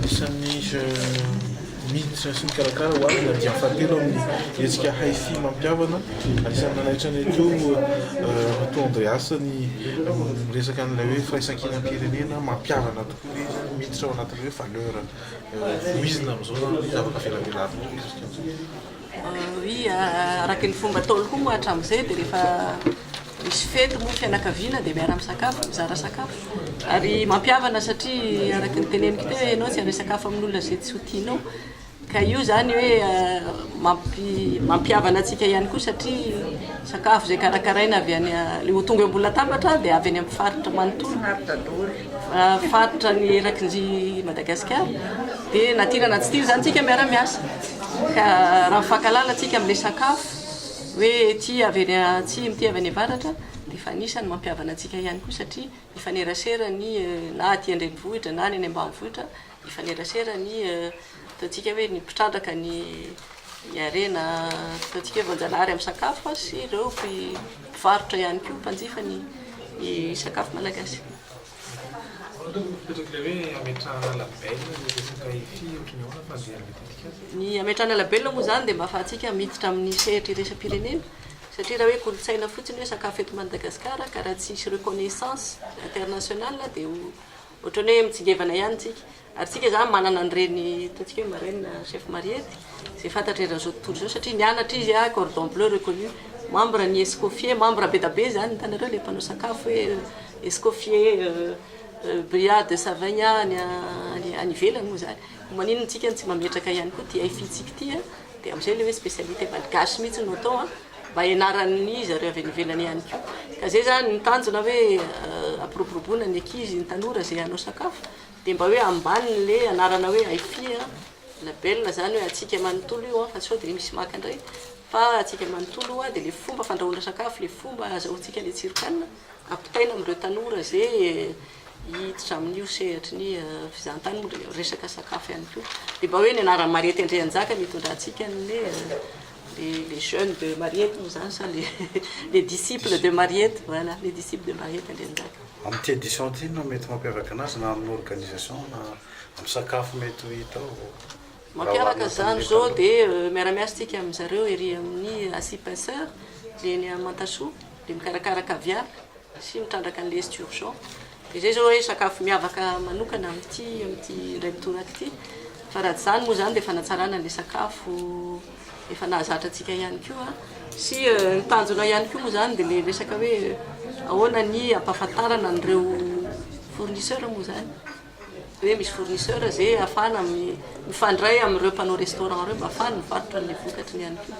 Isan'ny miditra sy mikarakara ho avy ny andiany fahatelo amin'ny hetsika Hi-Fi mampihavana. Anisan'ny nanaitra anay teo Ramatoa Andreas ny miresaka an'ilay hoe firaisankinam-pirenena mampihavana tokoa izy, miditra ao anatin'ny hoe valeur voizina amin'izao ny zavatra avelabelarina. Araka ny fomba ataony koa moa hatramin'izay dia rehefa misy fety moa fianakaviana dia miara misakafo, mizara sakafo. Ary mampihavana satria araka ny teneniko teo ianao tsy handray sakafo amin'olona izay tsy ho tianao. Ka io izany hoe mampihavana antsika ihany koa satria sakafo izay karakaraina avy any, ilay ho tonga eo ambony latabatra dia avy any amin'ny faritra manontolo. Faritra ny eraky ny Madagasikara dia na tiana na tsy tiana izany tsika miara miasa ka raha mifankalala tsika amin'ilay sakafo hoe ity avy any atsimo ity avy any avaratra dia efa anisany mampiavana antsika ihany koa satria mifanerasera ny na aty an-drenivohitra na any any ambanivohitra Mifanerasera ny ataontsika hoe ny mpitrandraka ny harena ataontsika hoe voanjanahary amin'ny sakafo sy ireo mpivarotra ihany koa mpanjifa ny sakafo malagasy. Ny hametrahana label moa izany dia mba ahafahantsika miditra amin'ny sehatra iraisam-pirenena satria raha hoe kolontsaina fotsiny hoe sakafo eto Madagasikara ka raha tsisy reconnaissance internationale dia ho Ohatrany hoe mitsingevana ihany tsika. Ary tsika zany manana an'ireny ataontsika hoe marraine chef Mariette izay fantatry eran'izao tontolo izao satria nianatra izy a cordon bleu reconnu membre ny escoffier membre be da be zany hitanareo le mpanao sakafo hoe escoffier bria de savaigny any any any ivelany moa zany ko maninona tsika no tsy mametraka ihany koa ty aifi tsika ty a de am'zay le hoe spécialité malgache mihitsy no atao a mba hianaran'iza ireo avy any ivelany ihany koa ka zay zany ny tanjona hoe ampiroboroboana ny ankizy ny tanora zay hanao sakafo dia mba hoe ambaniny le anarana hoe Aifi a label zany hoe antsika manontolo io an fa sao dia misy maka indray fa antsika manontolo io an dia le fomba fandrahoana sakafo le fomba azahoantsika le tsiron-kanina ampitaina amin'ireo tanora ze hiditra amin'io sehatry ny fizahantany moa dia resaka sakafo ihany koa dia mba hoe ny anaran'i Maria Tendreanjaka no hitondratsika ny Le les jeunes de Mariette moa zany sa le les disciples de Mariette voilà les disciples de Mariette Andrianjaka. Amin'ny thé du centre inona no mety mampiavaka anazy na amin'ny organisation na amin'ny sakafo mety ho hita ao? Mampiavaka izany izao dia miara-miasa isika amin-dry zareo ery amin'ny Asie Pinceur, dia eny Amantasoa dia mikarakara caviar. sy mitrandraka ny lest urgent dia izay izao hoe sakafo miavaka manokana amin'ity amin'ity indray mitoraka ity fa raha tsy izany moa izany dia fanatsarana ilay sakafo efa nahazatra antsika ihany koa sy ny tanjona ihany koa moa izany dia ilay resaka hoe ahoana ny ampahafantarana an'ireo fournisseur moa izany hoe misy fournisseur ze afahana mifandray amin'ireo mpanao restaurant ireo mba afahany mivarotra an'le vokatry ny ihany koa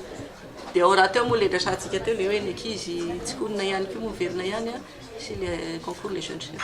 dia ao rahateo moa le resahantsika teo le hoe ny ankizy tsy honina ihany koa moa velona ihany a sy le concours le jeune chef